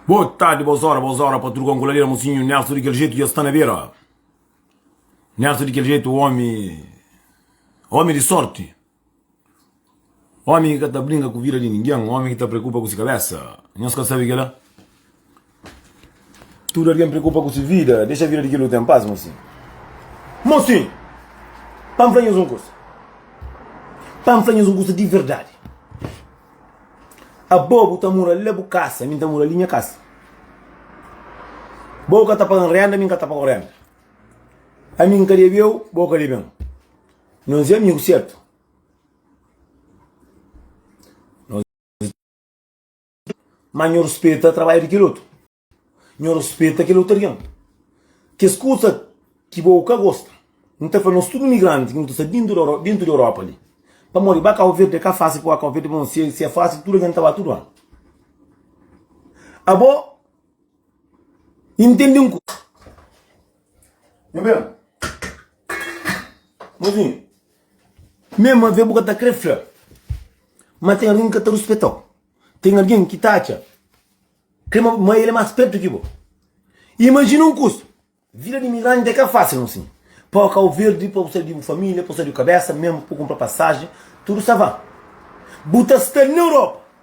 Boa tarde, boas horas, boas horas pa tudo com coladera, mocinho Nelson daquele jeito já está na beira. Nelson daquele jeito, homem, homem de sorte. Homem que está brinca com vida de ninguém, homem que está preocupa com sua cabeça. Nós quer saber que lá? Tudu algen preokupa ku se vida, dexa vida di kel otu en pas, mosinhu. Mosinhu! Pa N fla nhos un kuza. Pa N fla nhos un kuza di verdadi. Abo bu ta mora la bu kasa, mi N ta mora li nha kasa. Bo ka ta paga-m rénda, mi N ka ta paga-u rénda. Ami N ka debe-u, bo ka debe-m. Nos é amigu sertu? Má nhu ruspeta trabadju di kel otu. Nhu ruspeta kel otorion. Kes kuza ki bo ka gosta, N ta fla nos tudu migranti ki nu ta sta déntu di Europa li. Pamodi ba Cabo Verde é ka fásil pa ba Cabo Verde, pamodi si é fásil tudu algen ta ba tudu anu. Abo intende un kuza. Nha ben. Mozinhu. Mema ve bu ka ta kre fla ma ten algen ki ka ta ruspeta-u. Ten algen ki ta atxa ma el é más spertu ki bo. Imajina un kuza, Vida di imigranti é ka fásil un sin. Pa oca bu perde, pa bu sai di bu família, pa bu sai di bu kabésa, mema pa bu kunpra pasajen, tudu sta van. Bu ta sta na Europa.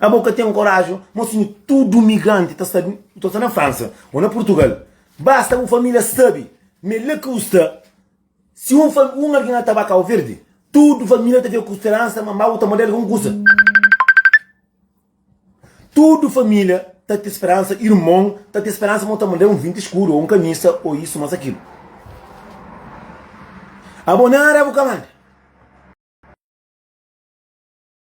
Abo ka ten koraji mosinhu tudu migranti ta sta ta sta na fransa o na purtugal basta bu familia sabi ma é la ki bu sta si un fa un algin na ta ba kau verdi tudu familia ta fika ku speransa ma ma bu ta model algun kusa tudu familia ta ten speransa irmon ta ten speransa ma ta model un vinti skuru o un kamisa o isu mas akilu abo nada bu ka manda.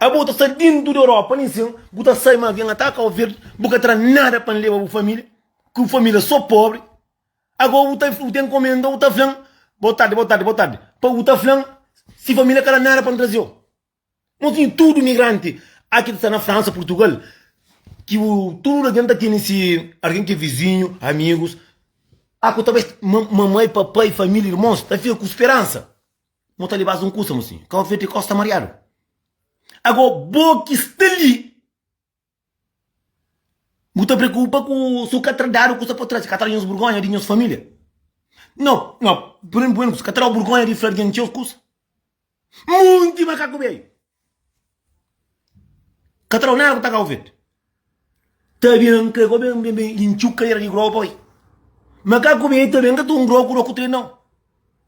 Abo ta sta dentu di Europa nin sen bu ta sai ma vem ata Cabo Verde bu ka tra nada pa leba bu familia ku familia so pobre ago bu ta bu ta encomenda bu ta flan bo tarde bo tarde bo tarde pa bu ta flan si familia ka da nada pa trazeo nos tin tudo migrante aki ta sta na França Portugal ki bu tudo algin ta tene si algin ki vizinho amigos ago ta bai mamai papai familia irmons ta fika ku speransa. Mo ta lebas un kusa mo sin ka oferte kos ta mariadu ago bo ki sta li bu ta preokupa ku su ka tra dadu kusa pa tras ka tra nhos burgonha di nhos familia no no primero ka tra burgonha di fla di nhos kusa monti makaku beiu. Ka ta dau nada ku ta kau fetu. Ta ben an kre ku ben ben ben i ntxu kadera di groba pa bai. Ma ka ku ben ta ben ka ta un groba ku doku tre nau.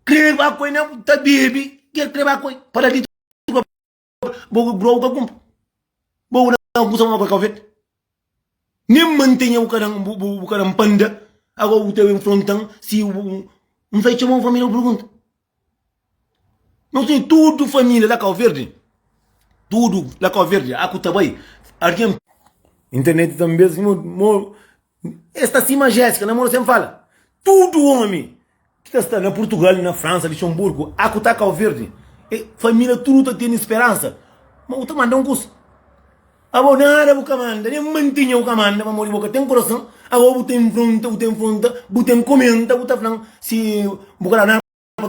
Kre ba koi na bu ta bebi ke kre ba koi pa da litru pa bo groba ka kunpri. Bo ku na kusa ma kau fetu. Nem mantenha bu ka dan bu ka dan panda agora bu ta bem frontan si um sai txema um família bu pergunta nos tem tudo família la cabo verde tudo la cabo verde a ku ta bai alguém internet tambem mo es ta si majésica namoro sem fala tudo homem Ki ta sta na Purtugal, na Fransa, Lixenburgu, a ku ta Kau Verdi, e família tudu ta tene speransa ma bu ta manda un kusa. Abo, nada bu ka manda, nen mantinha bu ka manda, pamodi bo ka ten kurason. Ago bu ta enfrenta, bu ta enfrenta, bu ta enkomenta, bu ta flan si bu ka da nada pa.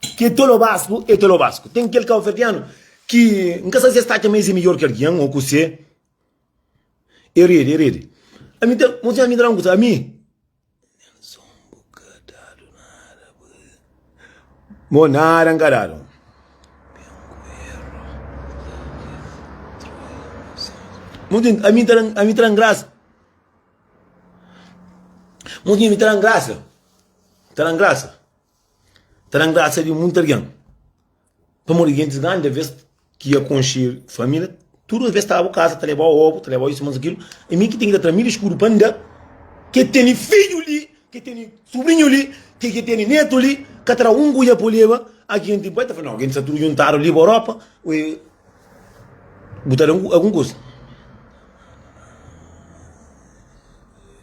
Ki é tolo basku, é tolo basku. Ten kel kauverdianu ki N ka sta si es ta atxa ma es é midjór ki algen ô kusé. É redi, é redi. Ami ta, un sinhora mi ta da un kusa, ami, Nelson bu ka dadu nada pa es. Bo nada N ka dadu. Bo ntinti? Ami ta da, ami ta da-m grasa. Bo ntinti? Mi ta da-m grasa, ta da-m grasa. Ta dan grasa di munti algen. Pamodi gentis grandi alvês ki ia konxe família, tudu alvês ta abu kaza, ta lebau obu, ta lebau isu más kil. I mi ki ten ki ta tra milhu skudu pa N da ke tene fidju li, ke tene subrinhu li, ke ke tene netu li, ka tra un kuia pa leba. A genti bai ta fla, nau, gentis sta tudu djuntadu li pa Europa, ue bu ta da algun kuza.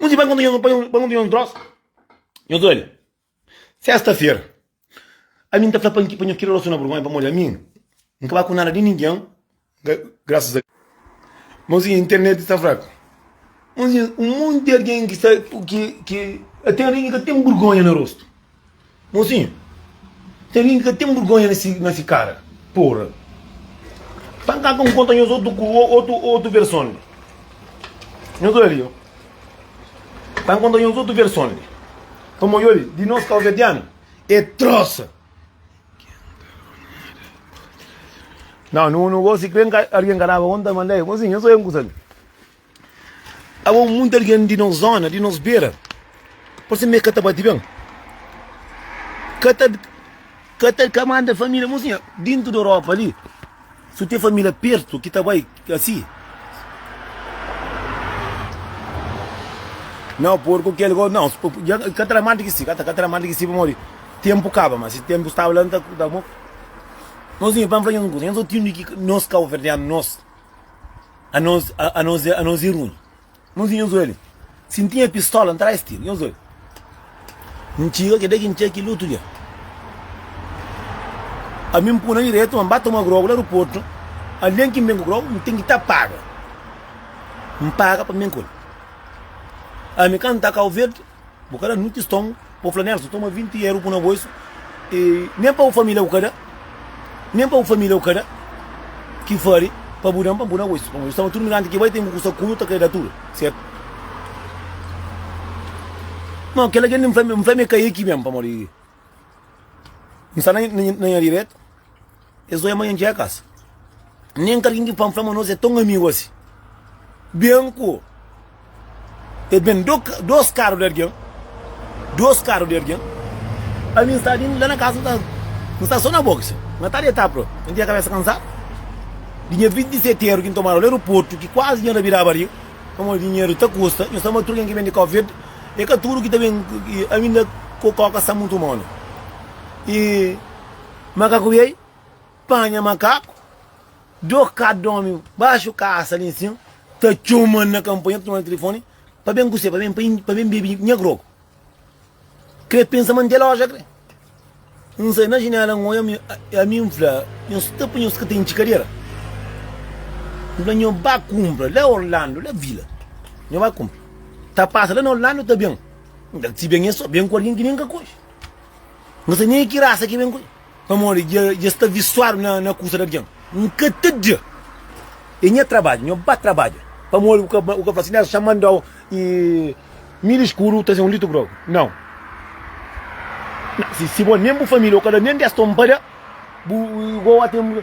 Un di banka nhu pa nhu un tros, nhu ta odja. Sesta-fera, ami N ta fla pa N pa nhu kira rosona burgonha pamodi ami N ka ba ku nada di ningen, grasas a. Má osi internet sta fraku. Un di un monti di algen ki sta ki ki ka ten ringen ka ten burgonha na rostu. Mozinho tem alguém que ka tem burgonha na si cara porra tem cá com conta nhos outro outro outro versão nhos olha ali tem conta nhos outro versão pa maior de nós calvediano é troça não não não gosto de alguém que dava conta mandei mozinho nhos olha um coisa ali Aba un monti algen di nos zona, di nos bera Parse mi e ka ta bati ben Ka ta Ka ta ka manda família Mon sinha Dintu di Europa li Su ten família pertu ki ta bai asi Nau porku kel go nau ja ka ta manda ki si Ka ta ka ta manda ki si pamodi Tenpu kaba ma si tenpu staba la N ta mo Mon sinha pa N fla-u un kuza Nhos otindu ki nos kauverdianu nos. Anos anos anos i runi Nos i nhos oiali Si N tinha pistola N traz ti Nhos oi N txiga keda ki N txia kel otu dia Ami N puna na diretu ma N ba toma grogu la aeroportu Algen ki N ben ku grogu N ten ki ta paga N paga pa N ben ku el Ami ka N ta Kauverdi. Bu ka da nun kiston pa bu fla Nelson toma 20 euro pun na bolsu e nen pa bu família bu ka da nen pa bu família bu ka da ki fari pa bu dan pa pun na bolsu pamodi bu staba tudu migrante ki bai ten ku kusa ku nu ta kre da tudu sertu no kela kende n fla mi ka e ki ben pamodi n sta na nha diretu. Es oia ma nha djekas nen ka algin ki pan fla ma nos é ton amigu asi. Bianco e ben dos karu di algin, dos karu di algin. Ami n sta la na kasa, n sta so na box, nha ta deta pro, nha tinha kabesa kansadu di nha vinti di seteru ki n tomadu la aeroportu ki kuazi nha rabidaba li pamodi dinheru ta kusta. Nhos sama tudu ken ki ben di covid, e ka tudu ki ta ben ami nda ku koka sta mutu manu. Makaku bai panha makaku, dôs ka dômi baxu kasa li nsin, ta txoma-l na kanpanha, ta txoma-l na tilifoni pa ben ku se, pa ben, pa ben bebe nha grogu. Krê pensa ma N ten loja krê. N sai na jinela, N odja ami, N fla, Nhos sta pa nhos ka ten txikadera? N fla, Nho ba kunpra la Orlando, la vila. Nho ba kunpra. Ta pasa la na Orlando ta ben. N fla, Si ben é sô, ben ku algen ki nen ka konxe. Nka ta nega ki rasa ki ben ku. Pamodi dja dja sta visuadu na na kusa di algen. Nka ta dja. E nha trabadju, nho ba trabadja. Pamodi bu ka bu ka fla si Nelson xa mandau i mil skudu traze un litru grogu. Nau. Na si si bo nen bu familia o ka da nen 10 tonpada bu i goa ten.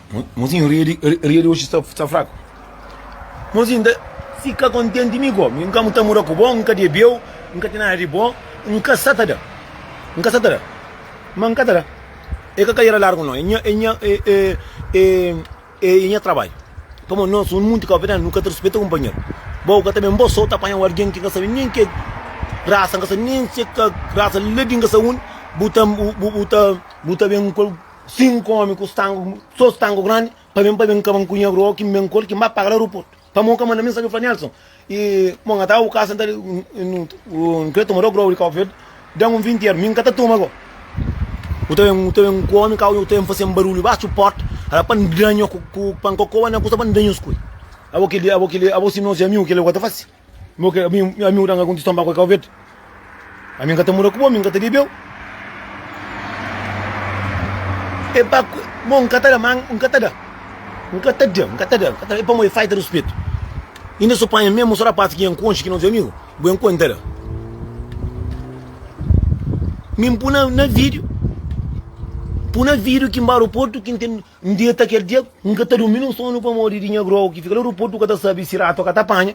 Mozinho ria di ria di oxi sta sta fraku Mozinho nta fika kontenti mi ko mi nka ta mura ku bo nka debiu nka ten nada di bo nka sa ta da nka sa ta da ma nka ta da e ka kariera largu no e nha e nha e e e e nha trabadju pamodi no so munti kabuverdianu nu ka ta rispita kunpanheru bo ka ta ben bo so ta panha un algin ki nka sabe nen ke rasa nka sabe nen se ka rasa ladi nka sa undi bu ta bu ta bu ta ben. Sinku omi ku stangu so stangu grandi pa ben pa ben kaba n kunha bro ki n ben kol ki n ba paga la aeroportu pa mon ka manda mi n sabi fla Nelson i mon ata u kasa n ta n kre toma do grau di kaufed dan un vinti er mi n ka ta toma go u ta ben u ta ben ku omi ka u ta ben fase un barulhu baxu porta ala pa n danha ku pa n kokoba na kusa pa n danha us koi abo kili abo kili abo si no se amigu kili ku ta fase. Mo ke ami ami udan ka konti sta mbaku e kau vedi. Ami nka ta mura ku bo, ami nka ta bebeu. E pa ku mo nka ta da ma nka ta da. Nka ta da, nka ta da, nka ta da. E pa mo e faita ruspetu. Inda so panha memu so rapasi ki N konxe ki no se amigu, bo e nko N ta da. Mi N pui na na vidiu, pui na vidiu ki mba aroportu ki N ten N deta kel dia, N ka ta durmi nun sonu pamodi di nha grou ki fika la ruportu ka ta sabe si ratu ka ta panha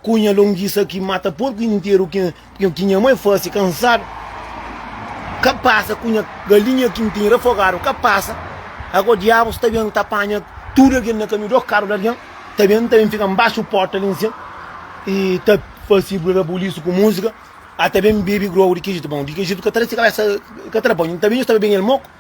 ku nha longisa ki mata porku interu ki nha mai fase kansadu ka pasa ku nha galinha ki N tene rafogadu ka pasa ago diabus ta ben ta panha tudu algen na kamiu do karu di algen ta ben ta ben fika nbaxu porta li nsin y ta fase rabulisu ku musika a ta ben bebe grou di ki jitu bon di ki jitu ka ta resi kabesa ka ta da banhu N ta ben staba ben el moku.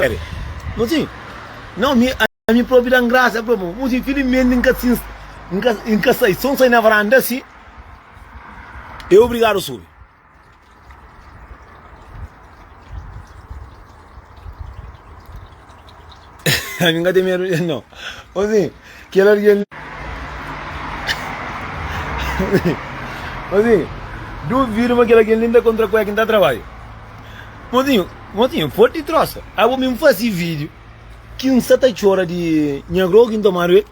Sabe? Mo sim, Não, mi, ami propi dan graça pro mo. Mo sim, Felizmente nka sin, nka, nka sai, son sai na varanda assim, e obrigado subi. Ami nka tem medo de não. Mo sim. Kel algen li Mozinhu, duvidu ma kel algen li n ta kontra ku el ki n ta trabadja Mozinhu, mozinhu, pode di trosa Abo mi n fase video ki n sa ta txora di nha grogu ki n tomadu el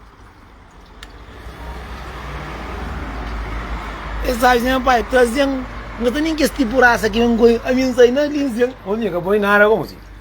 Es saja nha pai trazen N ka ta nin kes tipu rasa ki ben koi Ami n sai na linzen Mozinhu, ka poi nada ko mozinhu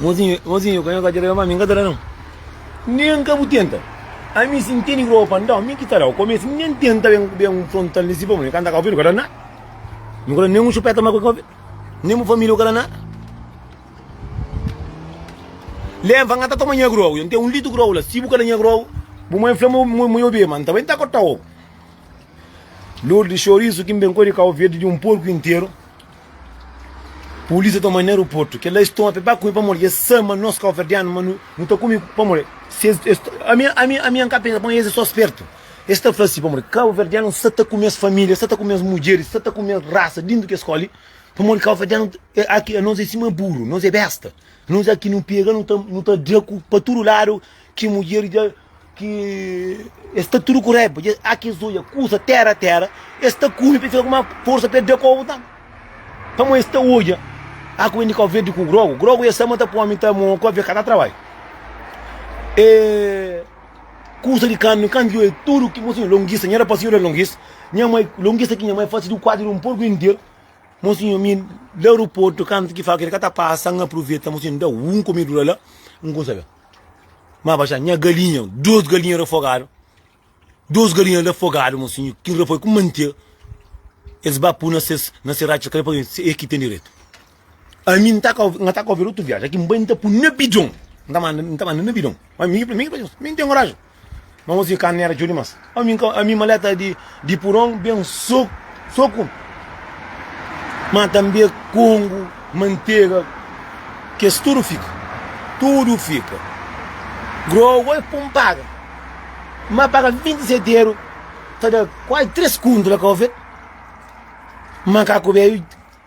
Mozinho, mozinho, kua nhos ta dja da-m ami, N ka ta da, nau Nen N ka bu tenta Ami si N tene groba pa N da-u, mi ki ta da-u Kome si N ben tenta ben ben frontal N siba-bu, mi ka N ta ka ofende, N ka da nada Mi ka da nen un xupeta ma kua ofende Nen bu família, N ka da nada Lé, N fla, N ta toma nha groba Yo N ten un litru groba la Si bu ka da nha groba Bu mai fla ma ma yo bebe, ma N ta bai ta kota-u Lourdes, Xorisu ki N ben kodi ka ofende di un porku interu Polícia toma na aeroporto Kel la es toma pe ba kume pamodi es sa ma nos kauverdianu ma nu nu ta kume pamodi si es es ami ami ami an ka pensa pamodi es é so spertu es ta fla si pamodi kauverdianu sa ta kume es familia sa ta kume es mudjeris sa ta kume es rasa dintu kes skoli pamodi kauverdianu aki anos é sima buru nos é besta nos aki nu pega nu ta nu ta dra ku pa tudu ladu ki mudjer dja ki es sta tudu ku raiba dje a kes oja kuza tera tera es sta kume pa fika ku ma forsa pa e da kobu nta pamo es sta oja a ku ben di kau verdi ku grogu grogu e sama ta po ami ta mo kau ve ka ta trabai e kuza di kanbi kanbi yo e tudu ki mo sinhor longisa nha rapaz sinhor e longis nha mai longisa ki nha mai fasi du kuadru di un porku interu mo sinhor mi da ruportu kantu ki faka el ka ta pasa n apruveta mo sinhor da un komedura la n kusa be. Maba xa nha galinha, dos galinha rafogadu, dos galinha rafogadu mon sinhor, ki rafoi ku mantia, es ba pu na ses, na ses ratxas kale paske se e ki ten diretu. Ami n ta ka, nha ta ka ouvir otu viaji, aki n bai n ta pu na bidon, n ta manda, n ta manda na bidon, ma mi, mi, mi n ten koraji. Ma mos di carne era txeu dimas. Ó mi ka, ami maleta di, di puron ben soku, soku. Ma tanbe kongu, mantega, kes tudo fika, tudo fika. Grow oi pum paga. Ma paga 27 euro, ta da quase 3 kuntu la ka ofet. Ma ka ku bebi.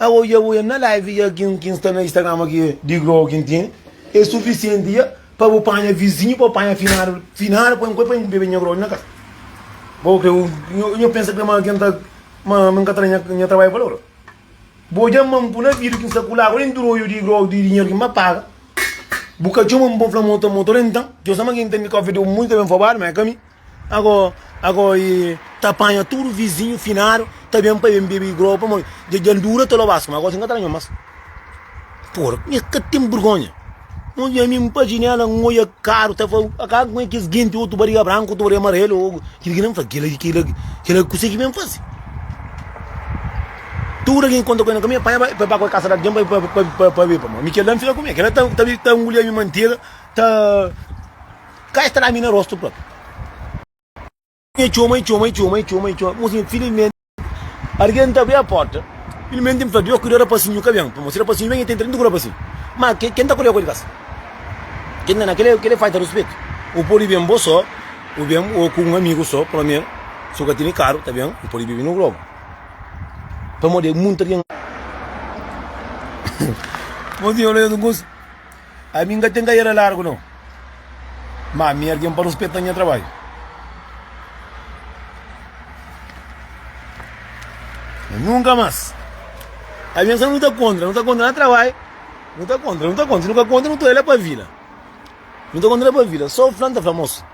Awoia woia na live ya kin kin sta na Instagram aki di grow kin tin e sufisienti ya pa bu panha vizinhu pa panha finadu finadu pa nko pa nko bebe nha grow na kasa bo kre nho nho pensa kre ma kin ta ma min ka tra nha trabalhu valor bo dja mam ku na vidu kin sta kula ku nen droio di grow di dinheru kin ba paga bu ka txoman pa fla mo ta mo toro entan djo sa ma kin ten di coffee di un munju ta ben fobadu ma e ka mi. Ago, ago e ta panha tudu vizinhu finadu ta ben pa ben bebe grow pamodi dja dja-l dura ta lobas kuma ago si n ka ta ranha-l mas. Pora, mi ka ten burgonha, n odja mi n pa jinela n oia karu ta fla akaba kuma kes genti otu bariga branku otu bariga marelu o kil ki nan fla kila ki kila ki kila ki kuse ki ben fase. Tudu algen ki konta ku el ka mi e panha ba e bai ba ku el kasa di algen pa pa pa pa bebe pamodi mi kel la n fika ku mi kel la ta ta ta ngulia mi mantega ta. Ka e sta na mi na rosto propi Nha txoma e txoma e txoma e txoma e txoma Mosinha filizmente Argen ta abri a porta Filizmente mi fla Dios kuda rapasinhu ka ben Pamodi si rapasinhu ben e ten 30 ku rapasinhu Ma ke ken ta kuda ku el kas Ken na na kel e falta ruspetu U podi ben bo so U ben o ku un amigu so Promer si u ka tene karu ta ben U podi bibi no globu Pamodi e munti argen Mosinha fla Nhos un kusa. ami n ka ten kariera largu nau ma ami algen pa ruspeta nha trabadju ma nunka mas ami n sabe nu ta kontra nu ta kontra na trabadju nu ta kontra nu ta kontra si nu ka kontra nu ta oi la pa vila nu ta kontra la pa vila so fla n ta fla mosi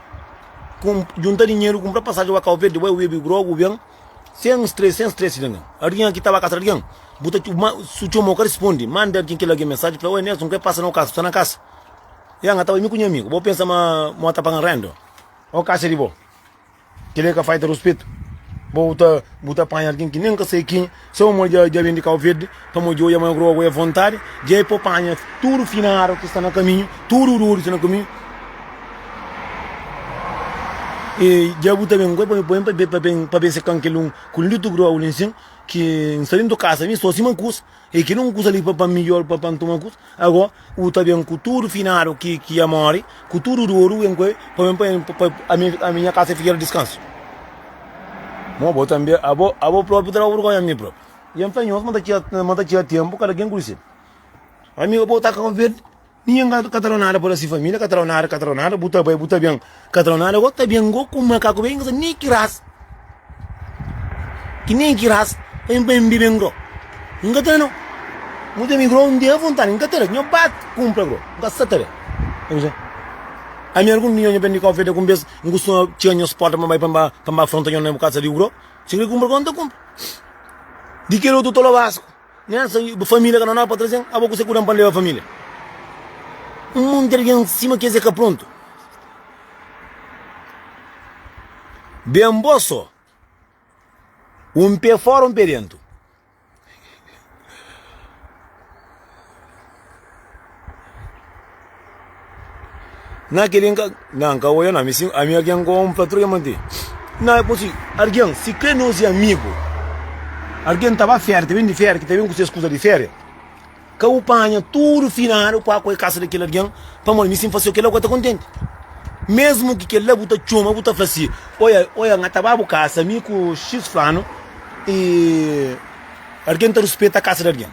junta dinheru kunpra pasaji pa kau verdi bai wibi grogu ben Sen uns três, sen stress di algen. Algen aki tava kasa di algen? Bu ta txoma, si bu txomau ka respondi, manda algen, kel algen mensaji fla, Oi Nelson, k'é pasa na Okasa? Bu sta na Okasa? Ya, nha tava mi ku nha amigu. Bo pensa ma mo ta paga-m renda? Okasa é di bo? Kel-li é ka faita di ruspetu? Bo ta, bu ta panha algen ki nen ka sai ki. Seu amor dja dja ben di Cau Verde Pamo djoia ma groa goia vontade Dja é po panha tudo finado ki sta na caminho Tudo dor ki sta na caminho Ei dja bu ta ben goia pa ben pa ben pa ben se can kel um Kul ndi tu groa ul insin Ki nsta dentu casa mi so sima um cus Ei ki dum cus ali pa pa mi yo pa pa ntuma cus Ago, u ta ben ku tudu finadu ki ki a mori, ku tudu doru ben ku el, pa ben pa pa pa ami ami nha kasa fika di diskansu. Mo bo tambi abo abo propi ta ba burgonha ami propi. I ami fla nhos ma ta txia ma ta txia tempu kada ken kuri sedu. Ami abo ta Kabo Verdi, ninhen ka ka ta lo nada pa da si familia, ka ta lo nada ka ta lo nada, bu ta bai bu ta ben. Katronada go ta ben go ku makaku ben inga sa ni ki ras ki ni ki ras pa mi pa mi bibe ngro inga ta no mu ta mi ngro un dia vontade inga ta nho ba kumpra ngro inga sa ta be ami algun dia nho ben di konfeta ku bes nho kustuma txia nhos porta pa mi bai pa mi ba pa mi ba fronta nho na bu kasa di ngro si nho kumpra ngro nho ta kumpra di kel otu tolo basku. Nha sa bu família ka na nau pa trazen abo kuse ku dan pa leba família un monti di algen sima ki es e ka prontu ben bo so un pé fora un pé dentu. Na kel dia n ka, na n ka oja na, mi si, ami algen ku un patrun ya mante, na e konsi algen si kre nos e amigu, algen ta ba férias ta ben di férias ki ta ben ku ses kuza di férias, ka bu panha tudu finadu pa ku e kasa di kel algen, pamodi mi si n fasiu kila ku e ta kontenti, mesmu ki kel la bu ta txoma bu ta fla si, oja, oja n ta ba bu kasa mi ku xis fulanu i algen ta ruspeta kasa di algen.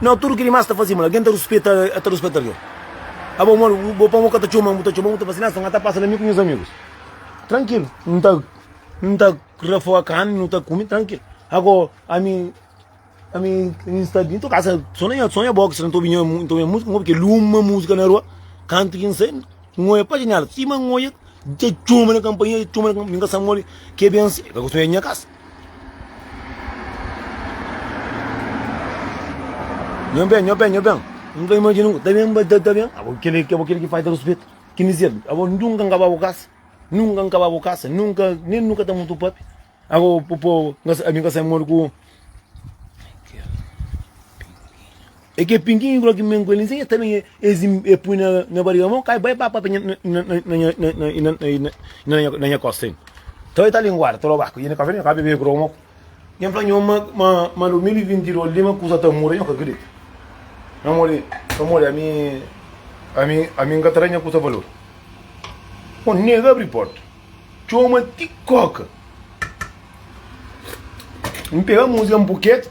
Nau, tudu ki dimás ta fase mal. Algen ta ruspeta, el ta ruspeta algen. Abo modi bu bo pamo ka ta txoman, bu ta txoman, bu ta fase nasa, n ta pasa na mi ku nhos amigus trankilu. Nu ta nu ta rafoga karni, nu ta kume trankilu. Ago ami ami ami sta bin to kasa so na nha so na nha box, n ta obi nha mu n ta obi nha musika, n obi kel uma musika na rua. Kantu ki n sai, n oia pa janela sima, n oia dja txoma na kanpanha, dja txoma na kanpanha, mi n ka sta modi ke ben si, ka gosi nha kasa. Nho ben, nho ben, nho ben N ta imajina un ta ben, ba ta ben Abo kile, abo kile ki falta ruspetu Ki N dizeba, abo nunka N kaba bo kasa Nunka N kaba bo kasa Nunka, nen nunka ta mutu pape Abo popo, ami ka sai modi ku. E ke pinguinhu grogi mi ngoli nzin e ta ben e pui na nha bariga mo kai bai ba papia na nha na nha kosta en to e ta linguada ta loba kuzina kafe ka bebe grogi mo ngen fla nho ma ma ma 2022 li ma kuza ta muda nho ka kridita pamodi pamodi ami ami ami nka ta da nha kusa valor o nega abri porta txoma ti koka npega musica npuketa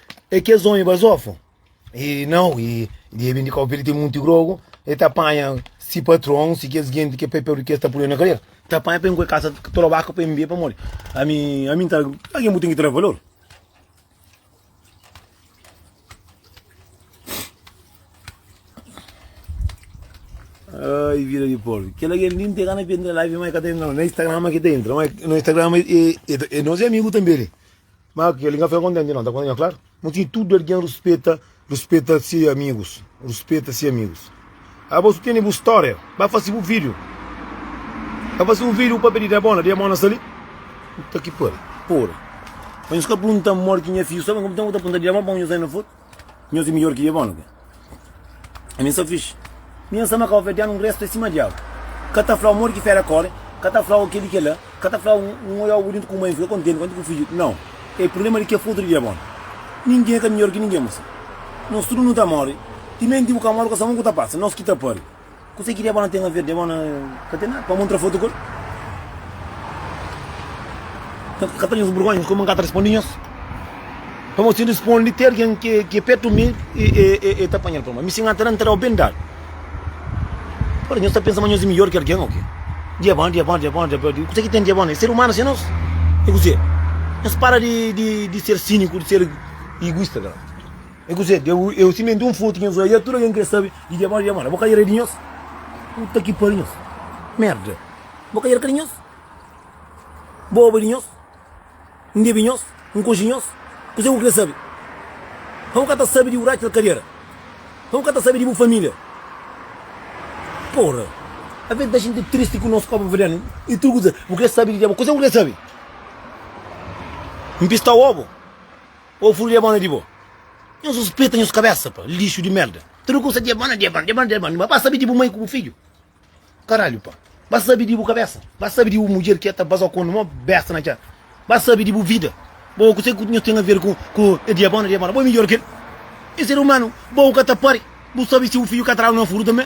É kes onhi bazofa? E nau, e di e bin di kau pa el ten munti grogu, e ta panha si patron, si kes genti ke pai Pedru ke sta pul el na kadera, ta panha pa e ngue kasa trobaku pa e mbia pamodi ami ami nta algin bu ten ki ta da valor. Ai vida di porku, kela gen li nte gana pa entra la, vi ma e ka ta entra no, na Instagrama ke ta entra, ma no Instagrama e e nos e amigu tambe li. Má kel li ka fika kontenti nau, ta konta nha klaru. Moti di tudu algen ruspeta ruspeta si amigus ruspeta si amigus abos ku tene bu stória ba fase bu vídiu ba fase un vídiu pabia di diabona diabona sta li puta ki pari pori pa nhos ka prunta modi ki nha fiju sta ben ku bu ten ku ta prunta diabona pa un nhos anda fóti. Nhos é midjor ki diabólu ke? Ami N sta fixi. Mi N sta ma kabovérdianu N resta sima diabu. Ka ta flau modi ki féra kóre, ka ta flau kel i kel-la, ka ta flau N odja obu dintu ku mai, N fika kontenti kantu ku fidju. Nau. É prubléma di kes pa utru di diabólu. Ningen ka midjor ki ningen, bu sabe. Nos tudu nu ta móre. Timenti bu ka móre, ku sta mon ku ta pasa. Nos ki ta pari. Kuzê ki diabona ten aver? Diabona ka ten nada, pamo ntra foto ku el. Ka ta nhos burgonha, nhos kuma nka ta respondi nhos. Pamo si respondi ti algen ki e petu mi, e ta panhal pa ma. Mi si nka ta da, nta dau ben dadu. Ora, nhos ta pensa ma nhos e midjor ki algen o ke? Diabona, diabona, diabona, diabona, di kuzê ki ten diabona? E ser umanu se nos? E kuzê? Nhos para di ser siniku, di ser iguista ka la. É kuzê? Deu é o simentu un frutu ki nhos odja, tudu algen krê sabe di Djabon, Djabon na bo ka era di nhos? Puta ki pariu nhos merda, bo ka era ka di nhos? Bo oba di nhos? N bebe nhos? N konxe nhos? Kuzê ku krê sabe? Ka bu ka ta sabe di bu raxi na kadera? Ka bu ka ta sabe di bu família? Pora, avê di ta xinti tristi ku nos Cabo Verdeano i tudu kuzê, bu krê sabe di Djabon? Kuzê ku krê sabe? N pista oba? Ô fru djabona di bo. Nhos ruspeta nhos kabésa pa, lixu di mérda. Tudu kusa djabona, djabona, djabona, djabona. Má ba sabe di bu mai ku bu fidju. Karalhu pa. Ba sabe di bu kabésa. Ba sabe di bu mudjer ki ta baza kondo mó besta na txéra. Ba sabe di bu vida. Bo kuzê ku nhos ten aver ku e djabona, djabona. Bo é midjór ki el. É ser umanu. Bo ka ta pari. Bu sabe si bu fidju ka tradu na furu tanbe.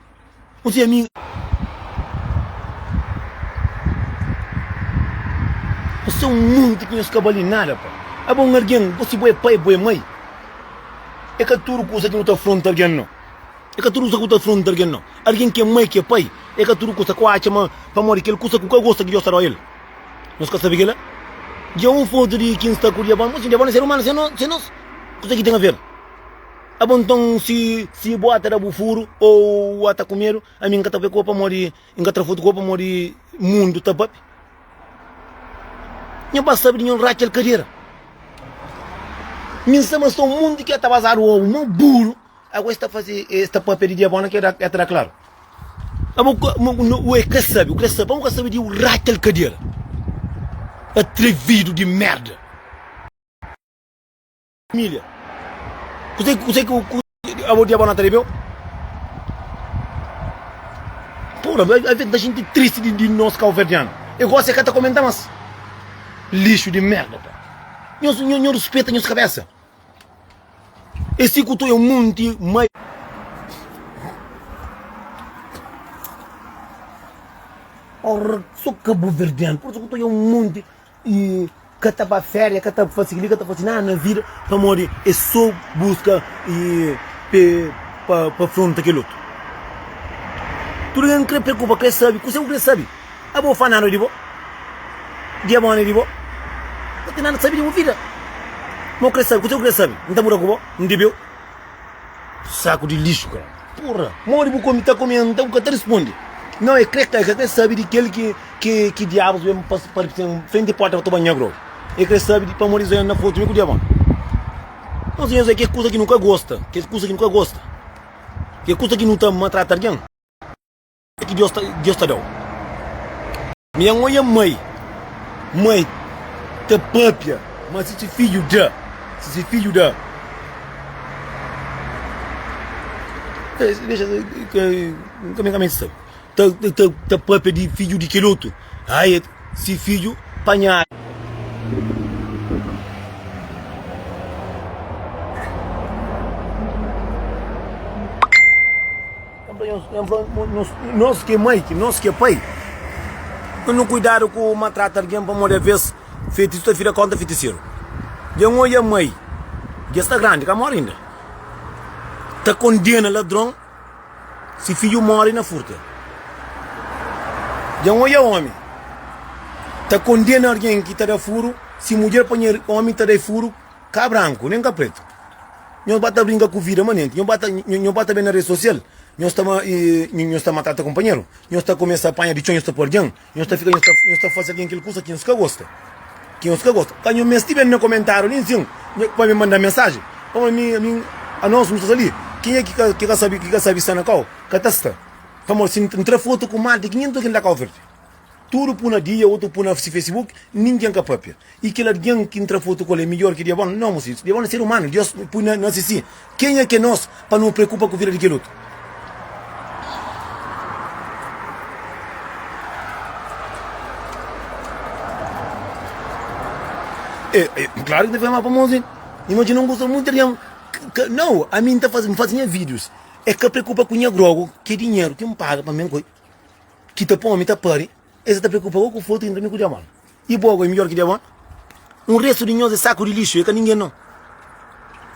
Pu ti ami. Pa se un monti ki nhos ka bali nada pa aba un argen gosi bo e pai bo e mai e ka tudu kusa ki nu ta fronta argen no e ka tudu kusa ku ta fronta argen no argen ke mai ke pai e ka tudu kusa ku atxa ma pamodi kel kusa ku ka gosta ki dios ta dau el nhos ka sabi kila dja un fotu di kin sta ku diabon bo si diabon e ser umanu se nos kusa ki ten aver Abo nton si si bo ata da bu furu o u ata ku medu ami nka ta fai ko pamodi nka tra fotu ko pamodi mundu ta papi nho ba sabi di nho racal kadera mi nsa ma so mundu ki ata bazadu obu mo buru agora esta fazi esta papia di dia bona ki ata da klaru abo ka ue ka sabi uka sabi pamo ka sabi di u racal kadera atrividu di merda. família. Kusé kusé ku ku abo diabo na ta rebeu? Pura, a vez da gente triste de, de nós calverdiano. Eu gosto é que tá comentando, mas lixo de merda, pá. Nho, nho, nho respeita nho cabeça. Esse que é um monte mais. Ora, sou cabo-verdiano, por isso que é um monte E ka ta ba féria, ka ta fase kili, ka ta fase nada na vida, pamodi e so buska e pe pa pa fronta kel otu. Tudu ken kre preokupa kre sabi kuse ku kre sabi. Abo fa nada di bo? Dia bo ne di bo? Bo ten nada sabi di bo vida. Mo kre sabi kuse ku kre sabi? N ta muda ku bo? N debeu? Saku di lixu kara. Purra, modi bu kome ta kome nta bu ka ta responde? Nau e kre kai ka kre sabi di kel ki ki ki diabus ben pa pa frenti di porta pa toba nha grogu. E kre sabi di pamodi Zé na fotu mi ku diabon. Nau siñor Zé ke kusa ki nu ka gosta, ke kusa ki nu ka gosta, ke kusa ki nu ta matrata algen. ki Deus ta Deus ta dau. Mi nha nhoia mai mai ta papia ma si si fidju da si si fidju da dexa kame kame sa ta ta ta papia di fidju di kel otu ai si fidju panha Nos ki é mai, nos ki é pai, nu ten kuidadu ku maltrata algen pamodi alvês fetisu ta fika kóntra fitiseru. Dja N odja mai ki es sta grandi, ka móre inda, ta kondena ladron si fidju móre na furta. Dja N odja ómi ta kondena algen ki ta da furu si mudjer panha ómi ta da-l furu. Ka branku, nen ka pretu. Nhos ba ta brinka ku vida manenti. Nhos ba ta, nhos ba ta ben na redi sosial. Nhos ta, nhos ta matata kunpanheru. Nhos ta kumesa panha di txon, nhos ta pua algen. Nhos ta fika, nhos ta, nhos ta fase algen kel kusa ki nhos ka gosta. Ki nhos ka gosta. Ka nhos mesti ben na komentariu li nsin pa mi manda mensaji. Pamodi mi, ami, anos nu ta sta li. Kenha ki ka, ki ka sabi, ki ka sabi sta na kau, ka ta sta. Pamodi si N tra fotu ku mal di 500 algen da Kau Verdi. Tudu pu na dia otu pu na si facebook ningen ka papia i kel algen ki ntra fotu ku el e midjor ki diabon no mu si diabon e ser umanu dios pui na na sisi kenha ke nos pa no preokupa ku vida di kel otu. E e klaru ki ta fika ma famozu imajina un gosta mutu di algen ka nau ami nta fazi nfazi nha videos e ka preokupa ku nha grogu ke dinheru ki npaga pa mi en koi. Ki ta pô-mi ta pâri. E sa ta preokupa gó ku fotu intra mi ku diabon. I bo gó e midjor ki diabon? Un restu di nhos e saku di lixu, e ka ningen nau.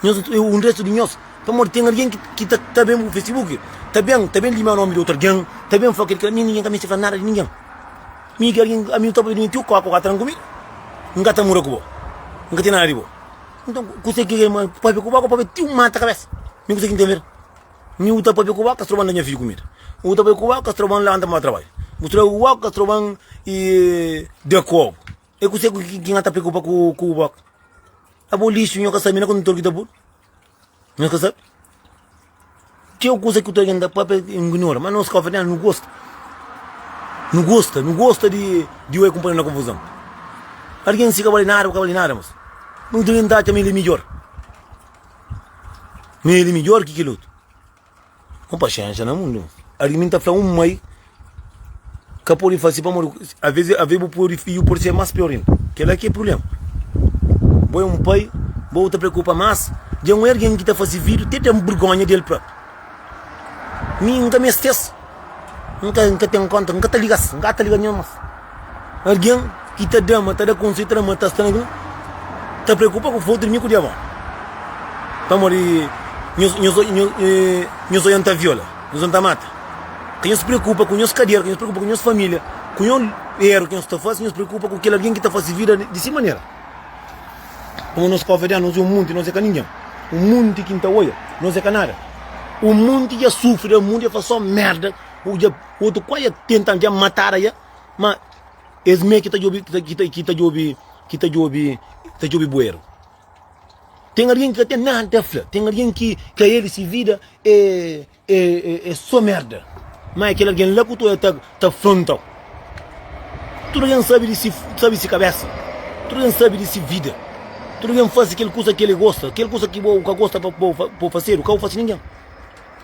Nhos e un restu di nhos. Pamodi ten algen ki ta ben bu facebook, ta ben ta ben limia nomi di otu algen, ta ben fla kel ki la. Mi ningen ka misti fla nada di ningen. Mi ki algen ami ta pode menti-u kóka ka ta tranku mi. N ka ta muda ku bo. N ka ten nada di bo. Nton, kuse ki é pâpia ku bo? Kó pâpia ti un mata kabésa. Mi kuse ki N ten medu? Nhu ta papia ku okas troban da nha fidju kumida Nhu ta bai ku okas troban lanta ma ba trabadja Bu tra okas troban y da ku obu E kuse ku ki nha ta preokupa ku ku bu oka A bo lixu nho ka sabi na kondutor ki ta pul Nhos ka sabi Txeu kusa ki tualgen ta papia e ngnora ma nos ka ofende elas nu gosta Nu gosta nu gosta di di bai kunpanheru na konfuzon Algen si ka bali nada bu ka bali nada mos Nhu tualgen ta atxa ma el e midjor. Me el é midjór ki kel otu Mon paxénxa na mundu Algen mi ta fla un mai Ka pode fase pamodi Avês avês bu poi fidju pode ser más piór inda Kel-la ki é prubléma Bo é un pai Bo ta preokupa más Dja un ergen ki ta fase fidju Ti ta ten burgónha di el própi Mi N ka meste-s, N ka N ka ten konta, N ka ta liga-s, N ka ta liga ninhun mas. Algen ki ta da-ma, ta da konxeru, ta da mata sta na bin ta preokupa ku fotu di mi ku di avó. Pamodi nhos nhos nhos odja-m ta viola, nhos odja-m ta mata. Ka nhos preokupa ku nhos kadera, ka nhos preokupa ku nhos familia, ku nhos eru ki nhos ta fase, nhos preokupa ku kel algen ki ta fase vida di si manera. Pamodi nos kóvadianu, nos é un munti, nos é ka ningen. Un munti ki N ta oia, nos é ka nada. Un munti dja sufri dja, un munti dja faze sô merda, un dja, otu kuazi dja tenta-m, dja mata-ra dja, má es mê ki ta djobe, ki ta, ki ta, ki ta djobe, ki ta djobe, ta djobe bueru. Ten algen ki ka ten nada ta fla, ten algen ki ka el, se vida é. É sô merda. Má é kel algen la ku tu el ta fronta-u. Tudu algen sabe di si sabe si kabésa. Tudu algen sabe di si vida. Tudu algen fase kel kusa ki el gosta. Kel kusa ki bo ka gosta pa bo fasedu, ka bo fase ningen.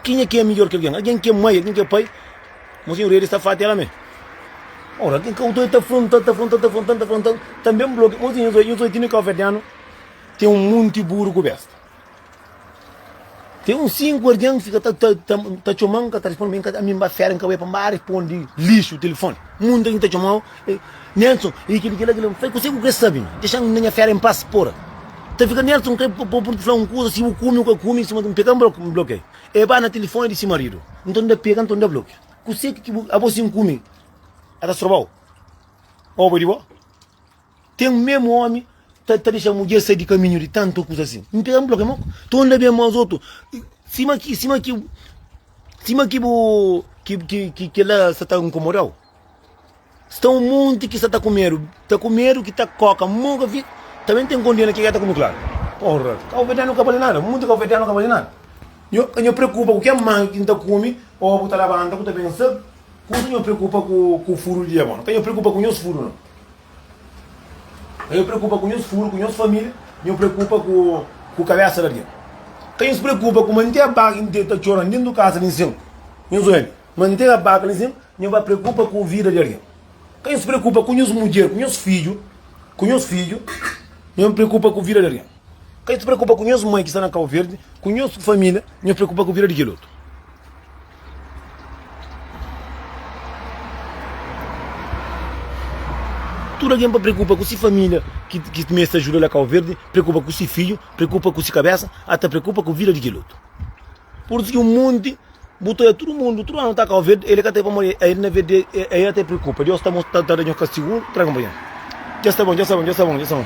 Kenha ki é midjór ki algen? Algen ki é mai, algen ki é pai? Monsinhor Edi sta fati éla mê. Ora, algen ka bo ta oi ta fronta-l, ta fronta-l, ta fronta-l, ta fronta-l. Tanbe N fla-u ki monsinhor Nhos Oitino i Káu Verdianu ten un monti buru ku bésta. Ten un sinku algen ki fika ta txoma-m, n ka ta responde, ma ami n ba fera, n ka bai pa n ba responde lixu tilifoni. Mundu algen ta txoma-u, Nelson, e kile, kile, kile. N fla-i, Kuse ku krê sabe? Dexa-m na nha fera en pas, pora! N ta fika, Nelson, n krê pô-bu ta fla un kuza, si bu kume u ka kume, sima ki n pega, n blokia-i. E ba na tilifoni di si maridu. Nton, N ta pega, nton N ta blokia. Kuse ki abo si N kume, N ta stroba-u? Oba di bo? Ten meme omi ta ta dexa mudjer sai di kaminhu di tantu kusa si n pega n blokia ma to anda ben mas otu sima ki sima ki sima ki bu ki ki ki kila sa ta nkomodau sta un monti ki sa ta ku medu ta ku medu ki ta koka mo ka fi ta ben ten kondena ke ke ta ku mi klaru porra kauberdanu ka bali nada monti kauberdanu ka bali nada nho nho preokupa ku ke mangi ki n ta komi o ku ta labanta ku ta ben sa kusa nho preokupa ku ku fudu di diabon ka nho preokupa ku nhos fudu no. Ka nhos preokupa ku nhos furu, ku nhos família, nhos preokupa ku kabésa di algen. Ka nhos preokupa ku mante abaka interu ta txora déntu kaza di nsin. Nhos oja li, mante abaka li sin, nhos ba preokupa ku vida di algen. Ka nhos preokupa ku nhos mudjer, ku nhos fidju, ku nhos fidju, nhos preokupa ku vida di algen. Ka nhos preokupa ku nhos mai ki sta na Kauverdi, ku nhos família, nhos preokupa ku vida di kel otu. Tudu algen pa preokupa ku si família ki ki meste ta ajuda la Cabo Verde, preokupa ku si fidju, preokupa ku si kabesa, ata preokupa ku vida di kel otu. Pur isu ki un monti bu ta oja tudu mundu, tudu anu ta Cabo Verde, el ka ta pamodi el el na verde el ata preokupa. Deus ta mos ta da nhos kastigu, traga-m pa nhos. Dja sta bon, dja sta bon, dja sta bon, dja sta bon.